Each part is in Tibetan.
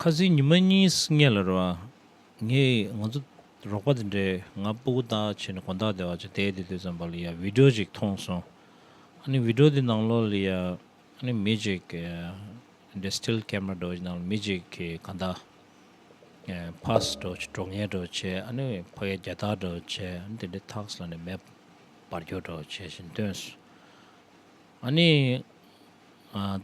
ཁ་ཟས་ཉི་མ་གཉིས་ལྔས་ལ་རོལ་བ། ངས་ང་ཚོ་རོགས་པ་དེ་འདྲས་ང་སྤོ་གོ་ད་བྱས་ནས་གོ་ད་བདེ་བ་ཅི་བདེ་བདེ་དུས་ཙམ་པ་ལ་ཡང་བིད་འགྲོ་ཅིག་མཐོང་སོང། ཨ་ནི་བིད་འགྲོ་དེ་ནང་ལོགས་ལ་ཡང་ཨ་ནི་མི་ཅིག་གི་དེ་འདྲས་སྟིལ་ཀེམ་ར་འགྲོ་ཅིག་ནང་ལ་མི་ཅིག་གི་ག་ད་ཕཱས་འགྲོ་ཅིག་གྲོ་ངན་འགྲོ་ཅེས་ཨ་ནི་ཕ་ག་རྒྱ་དར་འགྲོ་ཅེས་ཨ་ནི་དེ་འདྲས་ཐགས་ལ་ནས་མེ་འབར་རྒྱོ་འགྲོ་ཅེས་བཞིན་སྟོན་སོང། ཨ་ནི།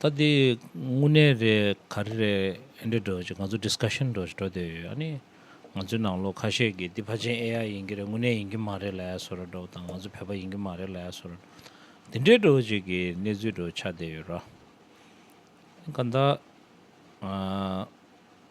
ད་འདི་དངོས་གནས་རེད་ག་རེ་རེད་ཨེ་འདྲ་འགྲོ་ཞེས་ང་ཚོ Discussion འགྲོ་ཞེས་འགྲོ་བསྡད་ཡོད་ཨ་ནི། ང་ཚོའི་ནང་ལོག་ཁ་ཤས་ཀྱིས་འདི་ཕ་ཆེན AI ཡིན་གྱི་རེད་དངོས་གནས་ཡིན་གྱི་མ་རེད་ལ་ཡ་སོ་ར་འགྲོ་དང་ང་ཚོ་བོད་པ་ཡིན་གྱི་མ་རེད་ལ་ཡ་སོ་ར་འདི་འདྲའི་འགྲོ་བྱེད་ཀྱི་གནས་ཚུལ་འགྲོ་ཆགས་བསྡད་ཡོད་ར། ག་ད།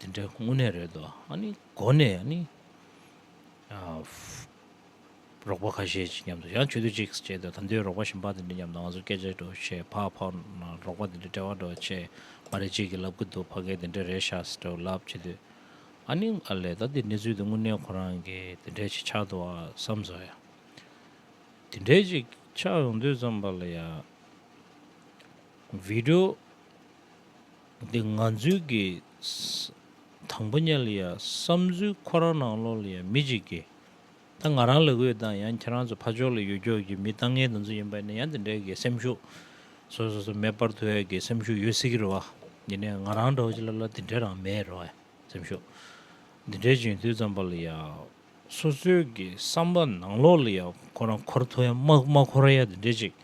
དེ་འདྲའི་དངོས་གནས་རེད་དོ། ཨ་ནི་མགོ་ནས་ཨ་ནི། རོགས་པ་ཁ་ཤས་ཅིག་མཉམ་དུ་ཡང་ཆོས་དུས་ཅིག་བྱས་དུས་ད་དུས་རོགས་པ་གཞན་པ་དེ་འདྲ་མཉམ་དུ་ང་ཚོ་སྐད་ཆ་འགྲོ་ཆེད་ཕ་ཕ་རོགས་པ་དེ་འདྲ་དཔྲལ་བར་འགྲོ་ཆེད་མ་རེད་ཅིག་གིས་ལབ་ཀི་འདུག་ཕ་གས་དེ་འདྲ་རེད་ཤག་སེ་འགྲོ་ལབ་བྱེད་དུས། ཨ་ནི་ཨ་ལས་ད་དེ་གནས་ཚུལ་དེ་དངོས་གནས་ཁོ་རང་གི་དེ་འདྲས་ཅིག་ཆགས་འདུག་ཨ་བསམ་ཟོ་ཡ། དེ་འདྲས་ཅིག་ཆགས་ཡོང་དུས་ཙམ་པ་ལ་ཡ། བིད་འགྲོ། འདི་ང་ཚོའི་གི། དང་པོ་ཉལ་ཡ་བསམ་ཚུལ་ཁོ་རང་ནང་ལོག་ལ་ཡང་མི་གཅིག་གི། ད་ང་རང་ལ་འོས་དང་ཡང་ཁྱེད་རང་ཚོ་ཕ་ཕྱོགས་ལ་ཡོད་སྐྱོགས་ཀྱི་མི་ལྟ་ངན་དང་ཚོ་ཡིན་པ་ནི་ཡང་དེ་འདྲའི་གི་སེམས་ཤུགས། སོ་སོ་སོ་མེད་པར་དུ་ཡ་གི་སེམས་ཤུགས་ཡོད་སྲིད་ཀྱི་རེད་བ། ཡིན་ནའི་ང་རང་འདྲ་བ་ཅིག་ལ་ལ་དེ་འདྲའི་རང་མེད་རེད་བ་སེམས་ཤུགས། འདི་འདྲའི་རྗེས་མཐུད་ཙམ་པ་ལ་ཡ། སོ་སོའི་གི་བསམ་པ་ནང་ལོག་ལ་ཡ་ཁོ་རང་འཁོར་དུ་ཡང་མ་འཁོར་ཡ་དེ་འདྲའི་ཅིག།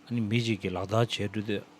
ཨ་ནི་མི་གཅིག་གི་ལག་རྡག་བྱས་འགྲོ་དུས།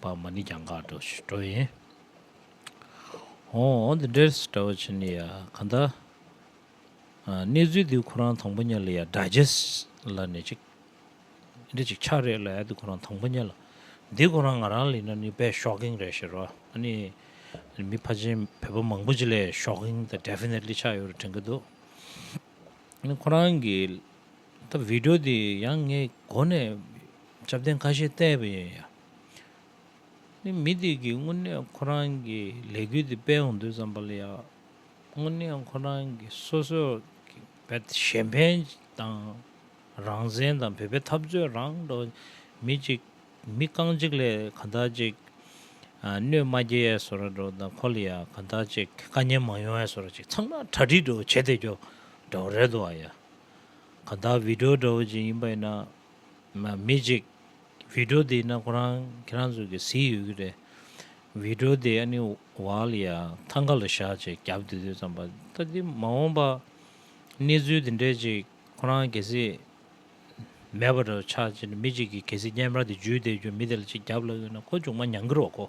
བ་མ་ནི་གྱང་ག་འགྲོ་ཞེས་འགྲོ་ཡིན། ཧོ། འདི་འདྲའི་ཞེས་གྲྭ་བ་ཆེན་ནི་ཡ། ག་ད། གནས་ཚུལ་འདི་ཁོ་རང་དང་པོ་ཉལ་ལ་ཡ་སྒྲ་རྗེས་ལ་ནས་ཅིག། འདི་ཅིག་ཆ་རེད་ལ་ཡ་འདི་ཁོ་རང་དང་པོ་ཉལ་ལ། འདི་ཁོ་རང་ང་རང་ལ་ཡིན་ན་ནི་དཔེ་ཤོགིང་རེད་ཞེས་རོ། ཨ་ནི། མི་ཕ་ཆེན་བོད་པ་མང་པོ་ཅིག་ལས་ཤོགིང་ད Definitely ཆགས་ཡོད་རེད་དྲན་གྱི་འདུག། ཁོ་རང་གི། ད་བི་དྲོ་དེ་ཡང་ངས་གོ་ནས་ཆབ་རྟེན་ཁ་ཤས་བལྟས་པ་ཡིན་ཡང། ནི་མི་དེ་གིས་དངོས་གནས་ཁོ་རང་གི་ལས་འགུལ་དེ་སྤེལ་འོང་དུས་ཙམ་པ་ལ་ཡང། དངོས་གནས་ཁོ་རང་གི་སོ་སོ་གི་བལ་གཞན་ཕན་དང། རང་བཙན་དང་བོད་པའི་འཐབ་རྩོད་རང་འགྲོ་མི་གཅིག་མི་རྐང་གཅིག་ལས་གང་དག་ཅིག་གནོད་མ་རྒྱས་ཡས་སོ་ར་འགྲོ་དང་ཁོ་ལ་ཡང་གང་དག་ཅིག་དཀའ་ཉེན་མ་ཡོང་ཡས་སོ་ར་ཅིག་ཚང་མ་གྲ་སྒྲིག་འགྲོ་བ་བྱེད་བསྡད་རྒྱོ་འདྲ་བ་རེད་དོ་ཨ་ཡ། ག་བདག་བི་དྲོ་འདྲ་བོ་ཅིག་ཡིན་པ་ཡིན་ན། མི་གཅིག་བི་དྲོ་དེ་ཡིན་ན་ཁོ་རང་ཁྱེད་རང་ཚོ་གི་གཟིགས་ཡོད་ཀྱི་རེད། བི་དྲོ་དེ་ཨ་ནི་ཝལ་ཡ་ཐང་ག་ལ་བཞག་ཅེས་རྒྱབ་དུས་དུས་ཙམ་པ་ད་དེ་མ་འོངས་པ་གནས་ཚུལ་དེ་འདྲས་ཅིག་ཁོ་རང་གལ་སྲིད་མེད་པ་འདྲ་བོ་ཆགས་ཅེས་མི་གཅིག་གིས་གལ་སྲིད་སྙན་པར་དེ་འཇུས་བསྡད་རྒྱུ་མི་དེ་ལ་ཅིག་རྒྱབ་ལབ་ཡོད་ན་ཁོ་ཅུང་མ་མྱང་གི་རོགས་གོ།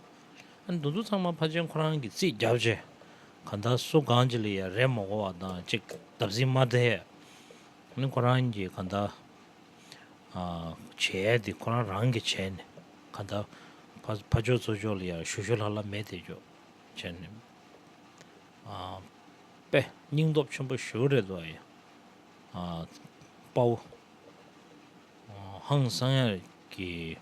འདུ་འཛོ་ཚང་མ་ཕ་ཆེན་ཁོ་རང་གི་རྩིས་རྒྱབ་ཆེ། ག་ད་སུ་གང་ཅི་ལ་ཡང་རེ་མོ་གོ་བ་དང་གཅིག་བདབ་ཟིན་མ་དེ་ནི་ཁོ་རང་གི་ག་ད་བྱས་དེ་ཁོ་རང་རང་གི་བྱས་ནི་ག་ད་ཕ་ཆོས་ཚོ་ཆོས་ལ་ཡང་ཞུ་ཞུ་ལྷ་ལྷ་མེད་དེ་ཆོས་བྱས་ནི་པེ་སྙིང་སྟོབས་ཆེན་པོ་ཞུ་རེད་དོ་ཡ་དཔའ་བོ་ཧང་སང་ཡ་གི།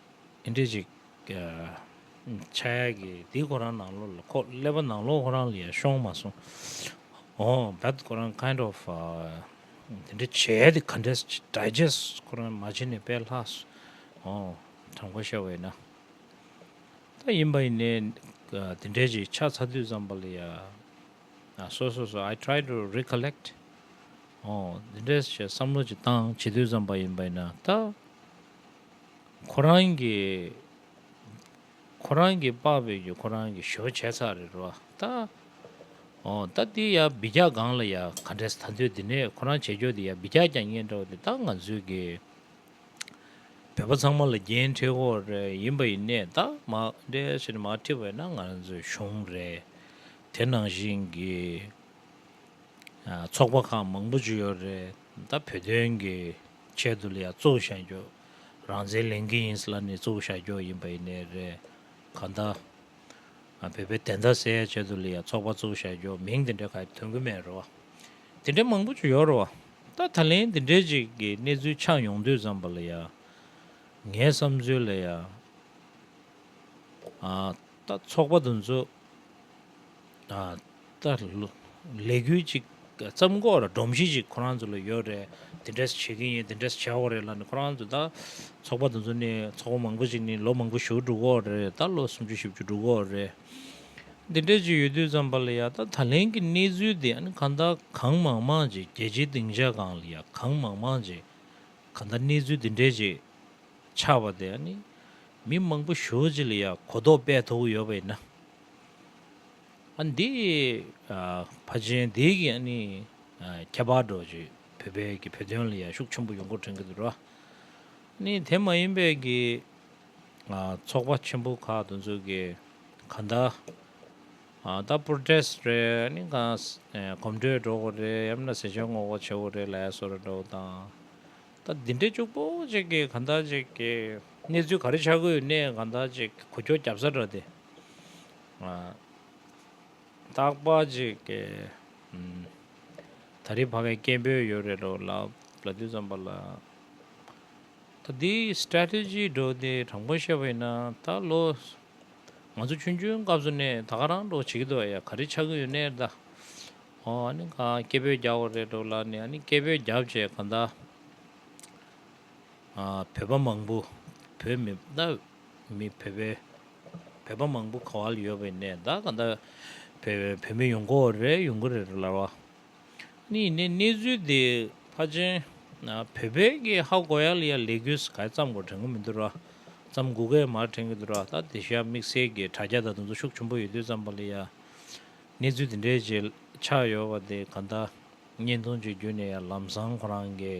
དེ་འདྲས་ཅིག། ཕྱག་གཡས་ཀྱིས་དེའི་ཁོ་རང་ནང་ལོགས་ལ་ཁོག་སླེབས་པ་ནང་ལོགས་ཁོ་རང་ལ་ཡར་ཤོང་མ་སོང། ཨོ but ཁོ་རང kind of དེ་འདྲས་བྱས་ཏེ་ག་འདྲས digest ཁོ་རང་མ་བྱས་ནས་པས་ལྷག་སོ། ཨོ་དྲང་པོ་བཤད་བས་ན། ད་ཡིན་པ་ཡིན་ནས་དེ་འདྲས་ཅིག་ཕྱག་ཚ་དུས་ཙམ་པ་ལ་ཡར་སོ་སོ་སོ I try to recollect ཨོ་དེ་འདྲས་བྱས་བསམ་བློ་ཅིག་བཏང་བྱེད་དུས་ཙམ་པ་ཡིན་པ་ཡིན་ན་ད། ཁོ་རང་གི་ཁོ་རང་གི་དཔའ་བོས་ཀྱི་ཁོ་རང་གི་ཞོར་བྱས་ཚར་རེད་རོ་ད། ཨོ་ད་འདི་ཡ་སྦི་རྒྱག་སྒང་ལ་ཡ་ག་འདྲས་ད་འདོད་འདི་ནས་ཁོ་རང་བྱས་ཁྱོ་འདི་ཡ་སྦི་རྒྱག་ཀྱང་ཉན་འདྲ་བ་འདི་ད་ང་ཚོའི་གི་བོད་པ་ཚང་མ་ལ་རྒྱན་འཁྲི་ཧོ་རེ་ཡིན་པ་ཡིན་ནས་ད་མ་འདྲས་ཟེར་མ་འཁྲི་བས་ན་ང་ཚོའི་གཞུང་རེད་དེ་ནང་བཞིན་གི་ཚོགས་པ་ཁག་མང་པོ་ཅི་ཡོད་རེད། ད་བོད་དོན་གྱི་ཆེད་དུ་ལ་ཡང་གཙོ་བཞག་རྒྱོགས་རང་བཙན་ལེན་གི་ཡིན་ས་ལ་ནས་གཙོ་བཞག་རྒྱོགས་ཡིན་པ་ཡིན་ནས་རེད་ག་ད་བོད་པའི་བདེན་མཐའ་སེལ་ཡ་ཆེད་དུ་ལ་ཡང་ཚོགས་པ་གཙོ་བཞག་རྒྱོགས་མིང་དེ་འདྲ་ག་ཡི་ཐོན་གི་མེད་རེད་བ་དེ་འདྲ་མང་པོ་ཅིག་ཡོད་རེད་བ་ད་ད་ལན་དེ་འདྲའི་ཅིག་གི་གནས་ཚུལ་ཆགས་ཡོང་དུས་ཙམ་པ་ལ་ཡང་ངའི་བསམ་ཚུལ་ལ་ཡང་ད་ཚོགས་པ་དུ་འཛུགས། ད་ལས་འགུལ་གཅིག་བརྩམས་གོ་ལ་སྒྲོམ་གཞི་གཅིག་ཁོ་རང་ཚོ་ལ་ཡོད་རེད་དེ་འདྲས་བྱེད་ཀྱི་ཡིན་དེ་འདྲས་བྱ་འོ་རེད་ལབ་ནས་ཁོ་རང་ཚོ་ད་ཚོགས་པ་དེ་ཚོ་ནི་ཚོགས་པ་མང་པོ་ཞིག་ནི་ལོ་མང་པོ་བཞུགས་འགྲོ་གོ་རེད་ད་ལོ་སུམ་ཅུ་བཞི་བཅུ་འགྲོ་གོ་རེད་དེ་འདྲས་ཀྱི་ཡོད་དུས་ཙམ་པ་ལ་ཡ་ད་ད་ལན་གྱི་གནས་ཚུལ་དེ་ཨ་ནི་གང་ད་གང་མང་མང་ཅིག་རྒྱལ་སྤྱིའི་སྡིངས་ཆ་གང་ལ་ཡ་གང་མང་མང་ཅིག་གང་ད་གནས་ཚུལ་དེ་འདྲས་ཅིག་ཆགས་པ་དེ་ཨ་ནི་མི་མང་པོ་བཞུགས་ཅིག་ལ་ཡ་གོ་རྟོགས་སྤེལ་ཐུབ་ཀྱི་ཡོད་པ་ཡིན་ན། འདི་ཕ་ཆེན་འདི་གིས་ནི་ཁྱད་པར་འགྲོ་བྱེད་བོད་པའི་གི་བོད་དོན་ལ་ཡ་ཤུགས་ཆེན་པོ་ཡོང་སྐོར་དྲན་གི་འདུག་ར་ནི་དེ་མ་ཡིན་པའི་གི་ཚོགས་པ་ཆེན་པོ་ཁག་དུ་འཛུགས་གི་ག་འདའ་ད Protest རེད་ནི་ག་གོམ་བགྲོད་འགྲོ་གི་རེད་ཡང་མིན་ན་ཟས་ཅོལ་ངོ་གོ་བྱེད་གི་རེད་ལས་སོ་རེ་འགྲོ་གི་དང་ད་འདི་འདྲའི་ཅུག་པོ་ཅིག་གི་ག་འདའ་ཅིག་གི་གནས་ཚུལ་ག་རེ་ཆགས་གི་ཡོད་ནས་ག་འདའ་ཅིག་གི་གོ་ཁྱོ་རྒྱབ་ས་ར་དེ། རྟག་པ་གཅིག་གི། ད་རེས་བར་བའི་སྐད་འབོད་ཡོད་རེད་འགྲོ་ལབ་ལ་དུས་ཙམ་པ་ལ། ད་འདི Strategy འགྲོ་འདི་དྲང་པོ་བཤད་པ་ཡིན་ན་ད་ལོ། ང་ཚོ་ཆུང་ཆུང་སྐབས་སུ་ནས་ད་ག་རང་འགྲོ་བྱེད་ཀྱི་འདུག་ཡ་ག་རེ་ཆགས་ཀྱི་ཡོད་ནའི་ད། ཨོ་ཨ་ནི་ག་སྐད་འབོད་རྒྱག་བ་རེད་འགྲོ་ལ་ནི་ཨ་ནི་སྐད་འབོད་བརྒྱབ་བྱས་ག་ད། བོད་པ་མང་པོ་བོད་མི་ད། མི་བོད་པའི་བོད་པ་མང་པོ་ག་བ་ལ་ཡོད་པའི་ནས་ད་ག་འདྲ་བོད་མི་ཡོང་གོ་རེ་ཡོང་གི་རེད་ལར་བ་ནི་ནས་གནས་ཚུལ་དེ་ཕ་ཆེན་བོད་པའི་གི་ཧ་གོ་ཡ་ལ་ཡ་ལས་གུ་ས་ག་ཙམ་གོ་དྲན་གི་མི་འདུག་ར་ཙམ་གུ་གས་མ་དྲན་གི་འདུག་ར་ད་དེ་ཤ་མིག་སེར་གི་དྲ་རྒྱ་ད་དུང་ཚོ་ཤུགས་ཆུན་པོ་ཡོད་དུས་ཙམ་པ་ལ་ཡ་གནས་ཚུལ་དེ་འདྲའི་ཆག་ཡོད་པ་དེ་ག་འདྲ་བརྙན་ཐུང་གཅིག་བརྒྱུད་ནས་ཡ་ལམ་སང་ཁོ་རང་གི་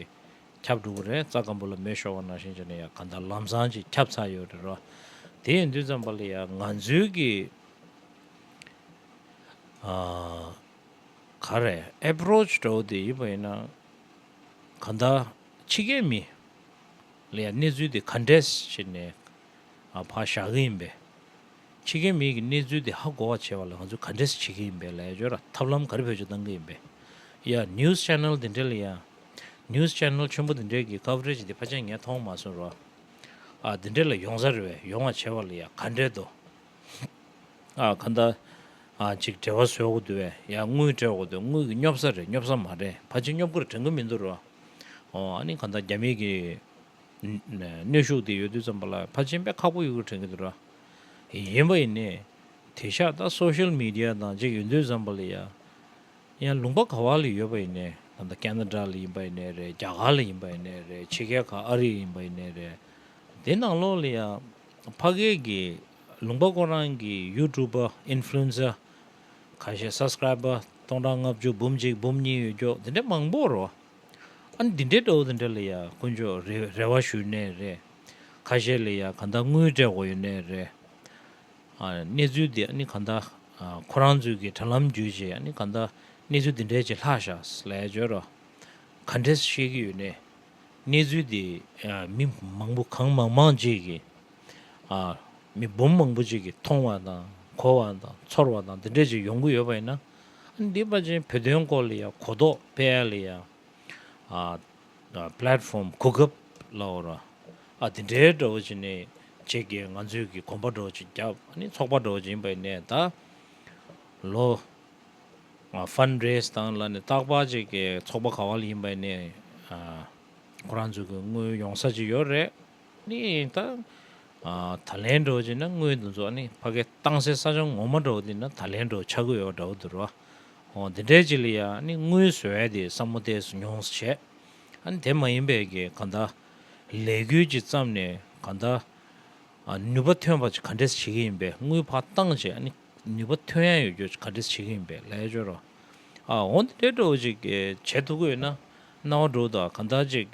ཁྱབ་འགྲོ་གི་རེད་རྩ་སྐམ་པོ་ལ་མེ་ཤོར་བ་ནང་བཞིན་ཅི་ནས་ཡང་གང་ལྟར་ལམ་སང་ཅིག་ཁྱབ་ཚར་ཡོད་རེད་རོ། དེ་ཡིན་དུས་ཙམ་པ་ལ་ཡང་ང་ཚོའི་གི་ག་རེ Approach འདྲ་བོ་དེ་ཡིན་པ་ཡིན་ན་གང་ལྟར་ཕྱི་རྒྱལ་མི་ལ་ཡང་གནས་ཚུལ་དེ Contest བྱེད་ནས་ཕ་བཞག་གི་ཡིན་པས། ཕྱི་རྒྱལ་མི་གི་གནས་ཚུལ་དེ་ཧ་གོ་བ་བྱེད་པ་ལ་ང་ཚོས Contest བྱེད་ཀྱི་ཡིན་པས་ལས་བྱོས་ར་ཐབས་ལམ་ག་རེ་བེད་སྤྱོད་གཏང་གི་ཡིན་པས། ཡ News Channel དེ་འདྲ་ལ་ཡང News Channel ཆེན་པོ་འདི་འདྲའི་གི Coverage འདི་ཕ་ཆེ་ངས་མཐོང་མ་སོང་རོ། ཨ་འདི་འདྲའི་ལ་ཡོང་ས་རེད་བས་ཡོང་བ་བྱས་བ་ལ་ཡང་ག་འདྲའི་དོ། ཨ་ག་འདའ། ཨ་ཅིག་བྲེལ་བ་བཟོས་འོག་དུ་བས་ཡང་དངུལ་སྤྲད་འོག་དུ་དངུལ་གི་སྙོབ་ས་རེད་སྙོབ་ས་མ་རེད་ཕ་ཆེ་སྙོབ་གི་རེད་དྲན་གི་མི་འདུག་རོ། ཨོ་ཨ་ནི་ག་འདའ་རྒྱ་མི་གི་གནོད་ཤུགས་འདི་ཡོད་དུས་ཙམ་པ་ལ་ཕ་ཆེ་དཔེ་ཁག་པོ་ཡོད་གི་དྲན་གི་འདུག་རོ། ཡིན་པ་ཡིན་ནི་དེ་ཤ་ད Social Media དང་ཅིག་ཡོད་དུས་ཙམ་པ་ལ་ཡང་ཡང་ལུང་པ་ག་བ་ལ་ཡོད་པ་ཡིན་ནའི་ད་ལྟ་ཀན་ན་ར་ལ་ཡིན་པ་ཡིན་ནའི་རེད་རྒྱ་གར་ལ་ཡིན་པ་ཡིན་ནའི་རེད་ཕྱི་རྒྱལ་ཁག་ཨ་རི་ཡིན་པ་ཡིན་ནའི་རེད་དེ་ནང་ལོགས་ལ་ཡང་ཕ་སྐད་ཀྱི་ལུང་པ་ཁོ་རང་གི་ཡུ་ཀྲུབ་པར་ཨིན་ཕླུ་ཨིན་སར་ག་ཤེད་སབ་སྐྲའིབ་པར་སྟོང་ཕྲག་ལྔ་བཅུ་འབུམ་གཅིག་འབུམ་གཉིས་ཡོད་རྒྱོག་དེ་འདྲའི་མང་པོར་རོ་ཨ་ནི་དེ་འདྲའི་འདྲ་བོ་དེ་འདྲ་ལ་ཡང་དཀོན་མཆོག་རེ་བ་ཞུས་ནའི་རེད་ཁ་ཤེད་ལ་ཡང་ག་འདང་དངུལ་སྤྲད་དགོས་ཡོད་ནའི་རེད། གནས་ཚུལ་འདི་ནི་གང་དག་ཁོ་རང་ཚོའི་གི་དྲ་ལམ་བརྒྱུད་ཅེས་ནི་གང་དག་གནས་ཚུལ་འདི་འདྲའི་ཅི་ལྷག་བཞག་ལས་བརྗོད་རོ། ག་འདྲས་བཤད་ཀྱི་ཡོད་ནས། གནས་ཚུལ་འདི་མི་མང་པོ་གང་མང་མང་ཅིག་གིས། མི་འབུམ་མང་པོ་ཅིག་གིས་མཐོང་བ་དང་གོ་བ་དང་ཚོར་བ་དང་འདི་འདྲས་ཅིག་ཡོང་གི་ཡོད་པ་ཡིན་ན། འདི་པ་ཅན་བོད་དོན་སྐོར་ལ་ཡང་གོ་རྟོགས་སྤེལ་ཡང། Platform། གོ་སྐབས་ལ་འོ་ར། ཨ་དེ་འདྲའི་འདྲ་བོ་ཅིག་ནི་བྱེད་དགེ་ང་ཚོས་ཀྱི་གོམ་པ་འདྲ་བོ་ཅིག་བརྒྱབ་ནི་ཚོགས་པ་འདྲ་བོ་ཅིག་ཡིན་པ་ཡིན་ནས་ད་ལོ། Fund Raise དང་ལ་ནི་རྟག་པར་བྱེད་དགེ་ཚོགས་པ་ག་བ་ལ་ཡིན་པ་ཡིན་ནས། ཁོ་རང་ཚོས་ཀྱི་དངུལ་ཡོང་ས་ཅིག་ཡོད་རེད། ནི་ཡིན་ད། ད་ལན་འགྲོ་ཅེ་ན་སྔོན་དུ་འཛོག་ནི་ཕ་གས་བཏང་སའི་ས་ཆ་ངོ་མ་འགྲོ་དེ་ན་ད་ལན་འགྲོ་ཆ་དགོས་ཡོག་འདྲ་བོ་དུ་རོ། ཧོ་དེ་འདྲའི་ཅི་ལ་ཡ་ནི་དངུལ་བཟོ་བས་དེ་ས་མོ་ཏས་སུ་མྱོང་ས་བྱས། ཨ་ནི་དེ་མ་ཡིན་པས་ཀྱི་ག་ད། ལས་འགུལ་གྱི་བརྩམས་ནས་ག་ད། ནུས་པ་ཐོན་པ་ཅི་ག་འདྲས་བྱེད་ཀྱི་ཡིན་པས་དངུལ་ཕ་བཏང་ཅེ་ཨ་ནི་ནུས་པ་ཐོན་ཡ་ཡོད་རྒྱུ་ཅི་ག་འདྲས་བྱེད་ཀྱི་ཡིན་པས་ལས་སྦྱོར་རོ། ཨ་ཧོ་འདི་འདྲས་འགྲོ་བོ་ཅིག་གས་བྱེད་ཐུ་དགོས་ན་ན་བ་འགྲོ་དུ་ཨ་ག་ད་ཅིག།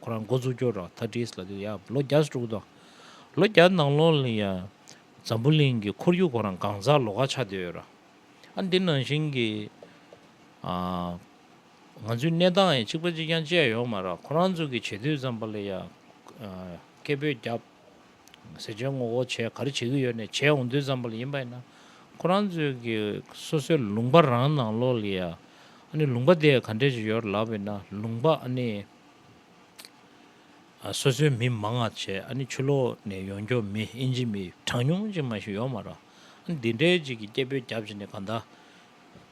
ཁོ་རང་འགོ་འཛུགས་སྐྱོར་རོགས་ཐ་དྲིས་ལ་དུས་ཡག་ལོ་བརྒྱ་དྲུག་དང། ལོ་བརྒྱ་ནང་ལོགས་ལ་ཡང་འཛམ་བུ་གླིང་གི་ཁོར་ཡུག་ཁོ་རང་གང་ཟག་ལོ་ག་ཆགས་བསྡད་ཡོད་ར། ཨ་འདི་ནང་བཞིན་གྱི་ང་ཚོའི་གནས་སྟངས་ཡང་གཅིག་པ་གཅིག་རྐྱང་བཅས་ཡོད་མ་ར་ཁོ་རང་ཚོ་གི་བྱེད་དུས་ཙམ་པ་ལ་ཡང་སྐད་འབོད་བརྒྱབ། ཟེར་བྱས་ངོ་ཁོ་བྱས་ག་རེ་བྱེད་ཀྱི་ཡོད་ནས་བྱས་འོང་དུས་ཙམ་པ་ལ་ཡིན་པ་ཡིན་ན་ཁོ་རང་ཚོ་གི་སོ་སོའི་ལུང་པ་རང་ནང་ལོགས་ལ་ཡང་ཨ་ནི་ལུང་པ་དེ་ག་འདྲས་ཀྱི་ཡོད་ར་ལབ་ཡིན་ན་ལུང་པ་ཨ་ནི་སོ་སོའི་མི་མང་ང་བྱས་ཨ་ནི་ཆུ་ལོག་ནས་ཡོང་འགྱོག་མི་ཨིན་ཇི་མི་གྲངས་ཉུང་ཅིག་མ་ཞིག་ཡོག་མ་རག་འདི་འདྲའི་ཅིག་གི་སྐད་འབོད་རྒྱབ་བྱས་ནས་ག་འདའ།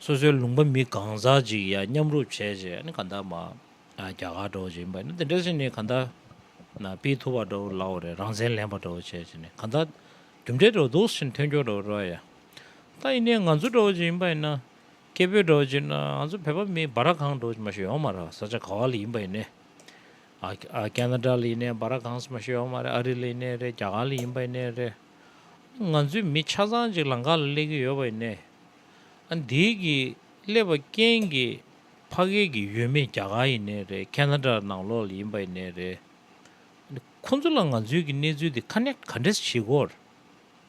སོ་སོའི་ལུང་པ་མི་གང་ཟག་ཅིག་ཡ་མཉམ་རུབ་བྱས་བྱས་ཨ་ནི་ག་འདའ་མ། རྒྱ་གར་འགྲོ་བྱས་མ་ཨ་ནི་འདི་འདྲ་ཅིག་ནི་ག་འདའ། ན་པི་ཐུ་བ་འགྲོ་བོ་ལའོ་རེད་རང་བཙན་ལེན་པ་འགྲོ་བོ་བྱས་བྱས་ནི་ག་འདའ། རྒྱུ་འབྲས་འགྲོ་འདུག་ཤིན་ཐོན་འགྱོག་འགྲོ་བོ་རོ་ཡ། ད་ཡིན་ནའི་ང་ཚོ་འགྲོ་བོ་ཅིག་ཡིན་པ་ཡིན་ན། སྐད་འབོད་སྒྲོག་བྱེད་ན་ང་ཚོ་བོད་པ་མིའི་སྦ་ར་གང་སྒྲོག་མ་ཤོད་ཡོང་མ་ར་ས་ཆ་ག་བ་ལ་ཡིན་པ་ཡིན་ནས་ཨ་ཀྱ་ན་དྲ་ལ་ཡིན་ནས་སྦ་ར་གང་ས་མ་ཤོད་ཡོང་མ་རེད་ཨ་རི་ལ་ཡིན་ནས་རེད་རྒྱ་གར་ལ་ཡིན་པ་ཡིན་ནས་རེད་ང་ཚོའི་མི་ཆ་ཚང་ཅིག་ལང་ཀ་ལ་སླེབས་ཀྱི་ཡོད་པ་ཡིན་ནས་ཨ་འདི་གི་སླེབས་པ་རྐྱེན་གྱི་ཕ་སྐད་གི་ཡུལ་མི་རྒྱ་གར་ཡིན་ནས་རེད་ཀྱ་ན་དྲ་ནང་ལོག་ལ་ཡིན་པ་ཡིན་ནས་རེད་ཁོང་ཚོ་ལ་ང་ཚོའི་གི་གནས་ཚུལ་འདི་ཁ་ནས་ག་འདྲེས་བྱེད་དགོས།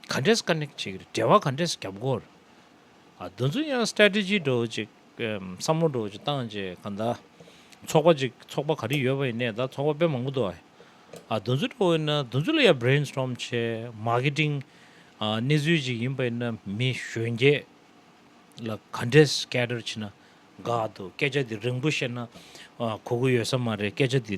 ག་འདྲས་ཀ་ནེག་ཅིག་རེད་འབྲེལ་བ་ག་འདྲས་རྒྱབ་གོ་རེད། འདི་ཚོ་ཡང Strategy འགྲོ་བ་ཅིག་བསམ་བློ་འགྲོ་བ་ཅིག་བཏང་རྗེས་ག་འདའ། ཚོགས་པ་ཅིག་ཚོགས་པ་ག་རེ་ཡོད་པ་ཡིན་ནའི་ད་ཚོགས་པ་དཔེ་མང་པོ་འདུག་ཨ། འདི་ཚོ་འགྲོ་བ་ཡིན་ན་འདི་ཚོ་ལ་ཡང Brain Storm བྱས Marketing གནས་ཚུལ་ཅིག་ཡིན་པ་ཡིན་ན་མི་གཞོན་སྐྱེས་ལ་ག་འདྲས Scatter བྱེད་ན་དགའ་འདུག་སྐད་ཆ་འདི་རིང་པོ་བཤད་ན་གོ་གི་ཡོད་ས་མ་རེད་སྐད་ཆ་འདི་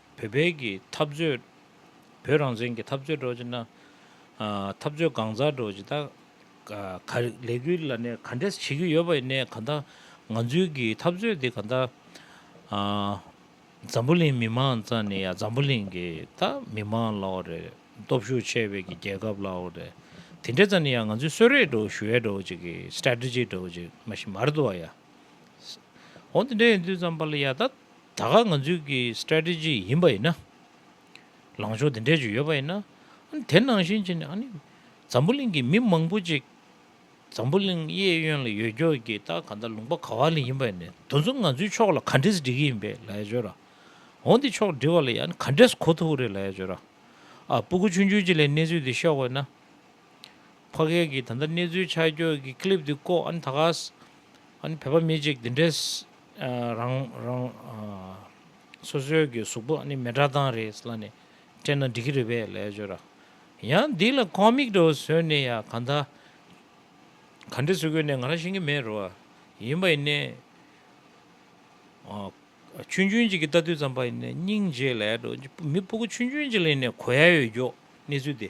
བོད་བརྒྱུད་ཀྱི་འཐབ་རྩོད། བོད་རང་བཙན་གྱི་འཐབ་རྩོད་སྒྲོག་ཅེ་ན། འཐབ་རྩོད་གང་མཛའ་སྒྲོག་ཅེ་ད། ལས་འགུལ་ལ་ནས་ག་འདྲས་བྱེད་ཀྱི་ཡོད་པ་ཡིན་ནའི་ག་ད། ང་ཚོའི་གི་འཐབ་རྩོད་དེ་ག་ད། འཛམ་བུ་གླིང་མི་མང་རྩ་ནས་ཡ་འཛམ་བུ་གླིང་གི་ད་མི་མང་ལའོ་རེད། སྟོབས་ཤུགས་ཆེ་བའི་གི་རྒྱལ་ཁབ་ལའོ་རེད། དེ་འདྲས་རྩ་ནས་ཡ་ང་ཚོའི་གསོད་རེས་སྒྲོག་ཞུ་ཡས་སྒྲོག་ཅེ་གི Strategy སྒྲོག་ཅེ་མ་ཤི་མར་དུ་བ་ཡ། འོ་དེ་འདྲས་ཡིན་དུས་ཙམ་པ་ལ་ཡ་ད། ད་ག་ང་ཚོའི་གི Strategy ཡིན་པ་ཡིན་ན། ལངས་ཕྱོགས་དེ་འདྲས་ཅིག་ཡོད་པ་ཡིན་ན། དེ་ནང་བཞིན་བྱས་ནས་ཨ་ནི་འཛམ་བུ་གླིང་གི་མི་མང་པོ་ཅིག་འཛམ་བུ་གླིང་གཡས་གཡོན་ལ་ཡོད་རྒྱུ་གི་ད་ག་ད་ལུང་པ་ག་བ་ལི་ཡིན་པ་ཡིན་ནས་དོན་གཟུགས་ང་ཚོའི་ཕྱོགས་ལ་ག་འདྲས་འགྲིག་གི་ཡིན་པས་ལ་ཡ་བྱོས་ར། འོ་འདི་ཕྱོགས་འགྲིག་བ་ལ་ཡ་ནི་ག་འདྲས་གོ་ཐུབ་རེད་ལ་ཡ་བྱོས་ར། ཨ་སྤུ་གུ་ཆུང་ཆུང་ཅིག་ལས་གནས་ཚུལ་འདི་ཤོད་དགོས་ན། ཕ་སྐད་ཀྱི་ད་ལྟ་གནས་ཚུལ་ཆ་རྒྱོས་ཀྱི Clip དེ་བཀོག་ཨ་ནི་ད་གཟ་ཨ་ནི་བོད་པ་མི་གཅིག་འདི་འདྲས་རང་རང་སོ་སོའི་གི་གཟུགས་པོ་ཨ་ནི་མེ་དགྲ་སྟངས་རེད་ལ་ནི་སྤྲད་ན་འགྲིག་གི་རེད་པས་ལས་བྱོས་ར་ཡང་འདི་ལ Comic འདྲ་བོ་བཟོས་ནས་ཡ་ག་ད་ག་འདྲས་བཟོས་དགོས་ནས་ང་རང་ཤེས་ཀྱི་མེད་རོ་ཡིན་པ་ཡིན་ནས་ཆུན་ཆུན་གཅིག་གི་ལྟ་དུས་ཙམ་པ་ཡིན་ནས་སྙིང་རྗེ་ལས་འགྲོ་མི་སྤུ་གུ་ཆུན་ཆུན་གཅིག་ལ་ཡིན་ནས་གོ་ཡ་ཡོད་རྒྱོ་གནས་ཚུལ་དེ།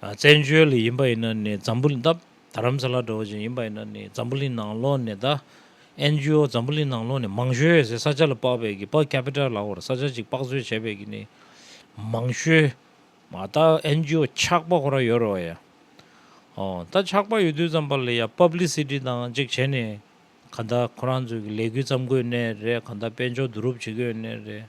བཙན་བྱོལ་ལ་ཡིན་པ་ཡིན་ན་ནི་འཛམ་བུ་ལི་འདབས་དར་རམ་ས་ལ་འགྲོ་བཞིན་ཡིན་པ་ཡིན་ན་ནི་འཛམ་བུ་ལི་ནང་ལོགས་ནས་ད་ཨེན་ཇི་ཨོ་འཛམ་བུ་ལི་ནང་ལོགས་ནས་མང་ཤོས་ཟེར་ས་ཆ་ལ་དཔག་པའི་གི་པར་ཁ་པི་ཏར་ལ་བར་ས་ཆ་ཅིག་དཔག་བཟོས་བྱས་པའི་གི་ནི་མང་ཤོས་མ་ད་ཨེན་ཇི་ཨོ་ཆགས་པ་ཁོ་ར་ཡོད་རོ་ཡ། ཨོ་ད་ཆགས་པ་ཡོད་དུས་ཙམ་པ་ལ་ཡ་པབ་ལི་སི་ཏི་དང་ཅིག་བྱས་ནས་ག་ད་ཁོ་རང་ཚོའི་གི་ལས་གུས་བརྩམ་དགོས་ནས་རེད་ག་ད་དཔལ་འབྱོར་བསྡུ་རུབ་བྱེད་དགོས་ནས་རེད།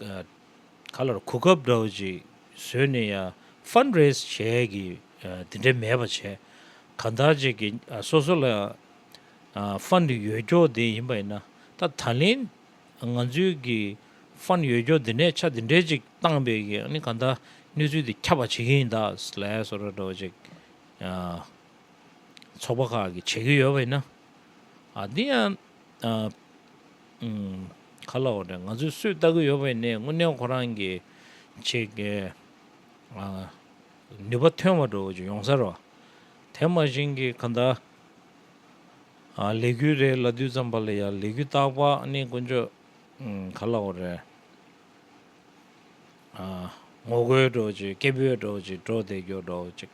ག་ལ་རུ་གོ་སྐབས་འདྲ་བོ་ཅིག་བཟོས་ནས་ཡང Fund Raise བྱས་ཀྱི་དེ་འདྲའི་མེད་པ་བྱས། གང་ལྟར་ཅིག་གི་སོ་སོ་ལ་ཡང Fund ཡོད་སྐྱོར་དེ་ཡིན་པ་ཡིན་ན་ད་ད་ལན་ང་ཚོའི་གི Fund ཡོད་སྐྱོར་དེ་ནས་ཆ་དེ་འདྲའི་ཅིག་བཏང་པས་ཀྱི་ནི་གང་ལྟར་གནས་ཚུལ་དེ་ཁྱབ་པ་བྱེད་ཀྱི་ཡིན་ད་ལས་སོ་ར་འདྲ་བོ་ཅིག་ཚོགས་པ་ཁག་གི་བྱེད་ཀྱི་ཡོད་པ་ཡིན་ན་འདི་ཡང་ག་ལ་འོ་ན་ང་ཚོས་སུས་བལྟ་གི་ཡོད་པ་ཡིན་ནའི་དངོས་གནས་ཁོ་རང་གི་ཆེད་ཀྱི་ནུས་པ་ཐོན་བ་འགྲོ་ཅིག་ཡོང་ས་རོ། དེ་མ་བཞིན་གྱི་ག་ད་ལས་འགུལ་རེ་ལ་དུས་ཙམ་པ་ལ་ཡང་ལས་འགུལ་བཏགས་པ་ནི་དཀོན་མཆོག་ག་ལ་འོ་རེད། ངོ་རྒོལ་འགྲོ་ཅིག་སྐད་འབོད་འགྲོ་ཅིག་འགྲོ་བསྡད་རྒྱོ་འགྲོ་ཅིག།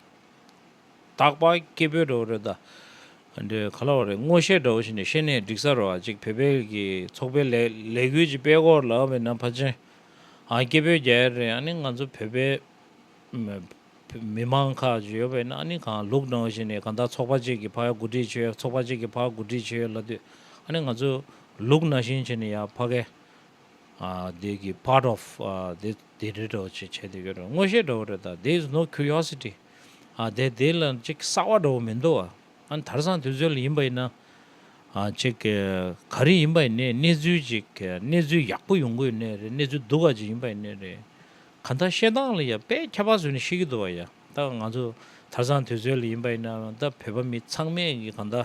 དག་པ་སྐྱེས་བུ་འདྲ་བོ་རེད་ད། འདི་ག་ལ་བ་རེད་སྔོ་ཤལ་འདྲ་བོ་ཞིག་ནས་ཤེས་ནས་འགྲིག་ས་རེད་བ་གཅིག་བོད་པའི་གི་ཚོགས་པའི་ལས་ལས་འགུལ་གྱི་པའི་གོར་ལ་བས་ན་ཕ་ཆེན་ཨ་སྐྱེས་བུ་རྒྱལ་རེད་ཨ་ནི་ང་ཚོ་བོད་པའི་མི་མང་ཁག་ཅིག་ཡོད་བས་ན་ཨ་ནི་གང་ལུགས་ནང་ཞིག་ནས་གང་ད་ཚོགས་པ་ཅིག་གི་ཕ་ཡ་གོ་སྒྲིག་བྱེད་ཡ་ཚོགས་པ་ཅིག་གི་ཕ་གོ་སྒྲིག་བྱེད་ཡ་ལ་དུས་ཨ་ནི་ང་ཚོ་ལུགས་ན་ཞིང་བྱེད་ནི་ཡ་ཕ་གས། འདིའི part of འདི་འདི་འདྲ་འདྲ་བ་ཅིག་བྱས་འདུག་ཡོད་རེད་དངོས་བཤད་འདྲ་བོ་རེད་ད there is no curiosity འདས་འདི་ལ་ཅིག་གསར་བ་འདྲ་བོ་མི་འདུག་ཨ་དར་སང་དུས་ཚོད་ལ་ཡིན་པ་ཡིན་ན་ཅིག་ག་རེ་ཡིན་པ་ཡིན་ནའི་གནས་ཚུལ་ཅིག་གནས་ཚུལ་ཡག་པོ་ཡོང་གི་ཡོད་ནའི་རེད་གནས་ཚུལ་སྡུག་བ་ཅིག་ཡིན་པ་ཡིན་ནའི་རེད་གང་ལྟར་བཤད་སྟངས་ལ་ཡ་དཔེ་ཁྱད་པར་ཟོས་ནས་ཤི་གི་འདུག་བ་ཡ་ད་ང་ཚོ་དར་སང་དུས་ཚོད་ལ་ཡིན་པ་ཡིན་ན་ད་བོད་པ་མི་ཚང་མས་གི་གང་ལྟར།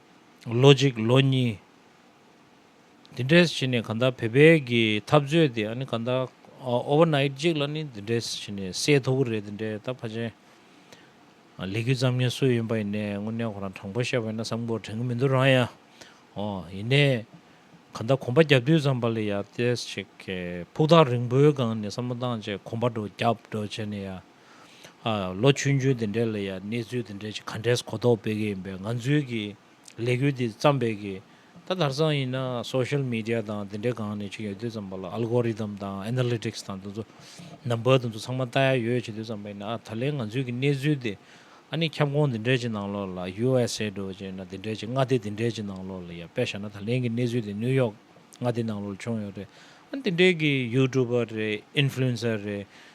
ལོ་གཅིག་ལོ་གཉིས། འདི་འདྲའི་བྱས་ནས་གང་ལྟར་བེད་སྤེལ་གྱི་ཐབས་རྩོད་དེ་ཨ་ནི་གང་ལྟར Overnight གཅིག་ལ་ནི་འདི་འདྲའི་བྱས་ནས་སེལ་ཐུབ་ཀྱི་རེད་དེ་འདྲའི་ད་ཕ་ཆེན་ལས་གུས་ཙམ་ཉན་སྲོལ་ཡོད་པ་ཡིན་ནས་དངོས་གནས་ཁོ་རང་དྲང་པོ་བཤད་པ་ཡིན་ན་བསམ་གོ་དྲན་གྱི་མི་འདུག་རང་ཡང་ཨོ་ཡིན་ནས་གང་ལྟར་གོམ་པ་རྒྱབ་དུས་ཙམ་པ་ལ་ཡང་ཏེས་ཆེ་གེ་ཕུགས་ཐག་རིང་པོའི་སྒང་ནས་བསམ་བློ་བཏང་རྗེས་གོམ་པ་འགྲོ་རྒྱབ་འགྲོ་བྱས་ནས་ཡང་ལོ་བཅུ་བཅུ་དེ་འདྲའི་ལ་ཡང་གནས་ཚུལ་དེ་འདྲའི་ག་འདྲས་གོ་རྟོགས་སྤེལ་གི་ཡིན་པས་ང་ཚོའི་གི་ལས་འགུལ་འདི་བརྩམས་པའི་གི་ད་དར་སང་ཡིན་ན Social Media དང་དེ་འདྲའི་སྒང་ནས་ཅིག་ཡོད་དུས་བརྩམས་པ་ལ Algorithm དང Analytics དང་དེ་ཚོ Number དེ་ཚོ་ཚང་མ་བལྟ་ཡ་ཡོད་བྱེད་དུས་བརྩམས་པ་ཡིན་ན་ད་ལན་ང་ཚོའི་གི་གནས་ཚུལ་འདི་ཨ་ནི་ཁྱབ་ཁོངས་དེ་འདྲའི་ཅིག་ནང་ལོགས་ལ USA འགྲོ་བྱས་ན་དེ་འདྲའི་ཅིག་མངའ་སྡེ་དེ་འདྲའི་ཅིག་ནང་ལོགས་ལ་ཡང་དཔེ་བཞག་ན་ད་ལན་གི་གནས་ཚུལ་དེ New York མངའ་སྡེ་ནང་ལོགས་ལ་བྱུང་ཡོད་རེད་ཨ་ནི་དེ་འདྲའི་གི YouTuber རེད Influencer རེད་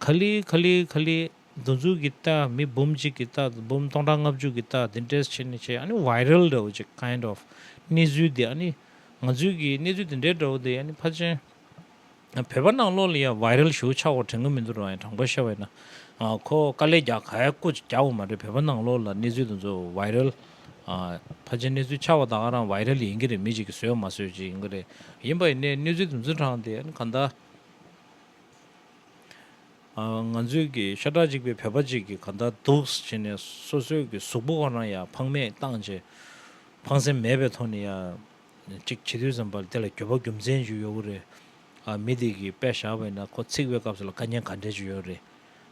ཁ་ལི་ཁ་ལི་ཁ་ལི། འདུ་འཛུགས་ཀྱི་རྟགས་མི་འབུམ་གཅིག་གི་རྟགས་དང་འབུམ་སྟོང་ཕྲག་ལྔ་བཅུ་གི་རྟགས་འདི་འདྲས་བྱས་ནས་བྱས་ཨ་ནི viral འདྲ་བོ་ཅིག kind of གནས་ཚུལ་འདི་ཨ་ནི་ང་ཚོའི་གི་གནས་ཚུལ་འདི་འདྲས་འདྲ་བོ་འདི་ཨ་ནི་ཕ་ཆེན་བོད་པ་ནང་ལོག་ལ་ཡང viral ཞུ་ཆགས་བ་དྲན་གི་མི་འདུག་རང་ཡང་དྲང་པོ་བཤད་བས་ན་ཁོ་དཀའ་ལས་རྒྱག་ག་ཡ་ཀོ་ཅིག་རྒྱག་བ་མ་རེད་བོད་པ་ནང་ལོག་ལ་གནས་ཚུལ་དེ་ཚོ viral ཕ་ཆེན་གནས་ཚུལ་ཆགས་བ་དག་རང viral ཡིན་གྱི་རེད་མི་ཅིག་གི་བཟོས་མ་བཟོས་ཅིག་ཡིན་གྱི་རེད་ཡིན་པ་ཡིན་ནའི་གནས་ཚུལ་དེ་ཚོ་དྲང་སྟེ་ཨ་ནི་གང་ལྟར། ང་ཚོས་ཀྱི་ཤ་ཁྲག་གཅིག་པའི་བོད་པ་གཅིག་གིས་ག་འདྲ་འདུག་ཅེས་ནས་སོ་སོས་ཀྱི་གཟུགས་པོ་གང་ན་ཡང་ཕངས་མེད་བཏང་རྗེས་ཕངས་སེམས་མེད་པའི་ཐོག་ནས་ཡང་ཅིག་བྱེད་དུས་ཙམ་པར་དེ་ལ་འགྱོད་པ་རྒྱུ་མཚན་ཅིག་ཡོད་རེད། མི་དེ་གིས་དཔེ་བཞག་པས་ན་ཁོ་ཚིག་པའི་སྐབས་སུ་ལ་དཀའ་ཉེན་ག་འདྲས་ཅིག་ཡོད་རེད།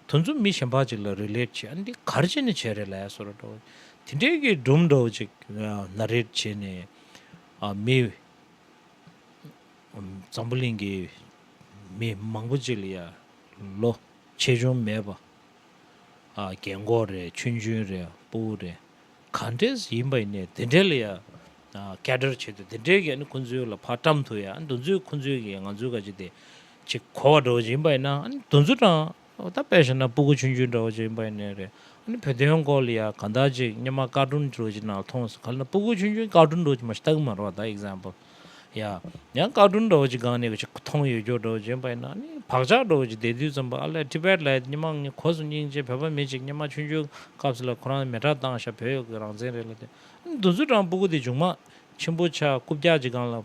དུ་མཚུངས་མི་གཞན་པ་ཅིག་ལ་རིལེད་བྱེད་ཨ་འདི་གར་བྱས་ནས་བྱས་རེད་ལ་སོ་ར་འདྲ་དེ་འདྲས་ཀྱིས་སྦྲུམ་འདྲ་བོ་ཅིག་ན་རེད་བྱས་ནས་མི་འཛམ་བུ་གླིང་གི་མི་མང་པོ་ཅིག་ལ་ཡར་ལོ་ཆེ་ཆུང་མེད་པར། རྒན་འཁོགས་རེད་ཆུང་ཆུང་རེད་སྤུ་བོ་རེད་ག་འདྲས་སུ་ཡིན་པ་ཡིན་ནའི་དེ་འདྲས་ལ་ཡང་སྐད་སྒྲར་བྱེད་དུ་དེ་འདྲས་ཀྱིས་ཁོང་ཚོའི་ལ་ཕ་བཀྲམ་དུ་ཡང་འདུ་འཛོས་ཁོང་ཚོའི་ཀྱིས་ང་ཚོའི་ག་ཅིག་དེ་ཅིག་གོ་བ་འགྲོ་བཞིན་པ་ཡིན་ན་འདུ་འཛོ་དྲང་ཨོ་ད་དཔེ་བཞག་ན་སྤུ་གུ་ཆུན་ཆུན་འདྲ་བོ་ཅིག་ཡིན་པ་ཡིན་ནི་རེད། ཨ་ནི་བོད་དོན་སྐོར་ལ་ཡང་གང་དག་ཅིག་སྙེ་མ་དཀར་སྒྲུང་འདྲ་བོ་ཅིག་ནང་ལ་མཐོང་སོང་ག་ལ་ན་སྤུ་གུ་ཆུན་ཆུན་དཀར་སྒྲུང་འདྲ་བོ་ཅིག་མ་ཤི་ད་གི་མ་རོག་ད example ཡ། ཡང་དཀར་སྒྲུང་འདྲ་བོ་ཅིག་སྒང་ནས་གི་ཆི་མཐོང་ཡོད་འགྱོག་འདྲ་བོ་ཅིག་ཡིན་པ་ཡིན་ན་ཨ་ནི་བག་ཆགས་འདྲ་བོ་ཅིག་དེ་དུས་ཙམ་པོ་ཨ་ལས Tibet ལ་ཡོད་སྙེ་མ་ངའི་གོ་སོང་སྙིང་རྗེ་བོད་པ་མི་ཅིག་སྙེ་མ་ཆུན་ཆུན་སྐབས་ལ་ཁོ་རང་མེ་ཁྲག་བཏང་ཤག་བོད་ཡོག་གི་རང་བཙན་རེད་ལ་དེ་ཨ་ནི་འདུ་འཛུ་ཀྲང་སྤུ་གུ་དེ་ཇུག་མ་ཆེན་པོ་ཆག་རྐུབ་རྒྱག་ཅིག་སྒང་ལ་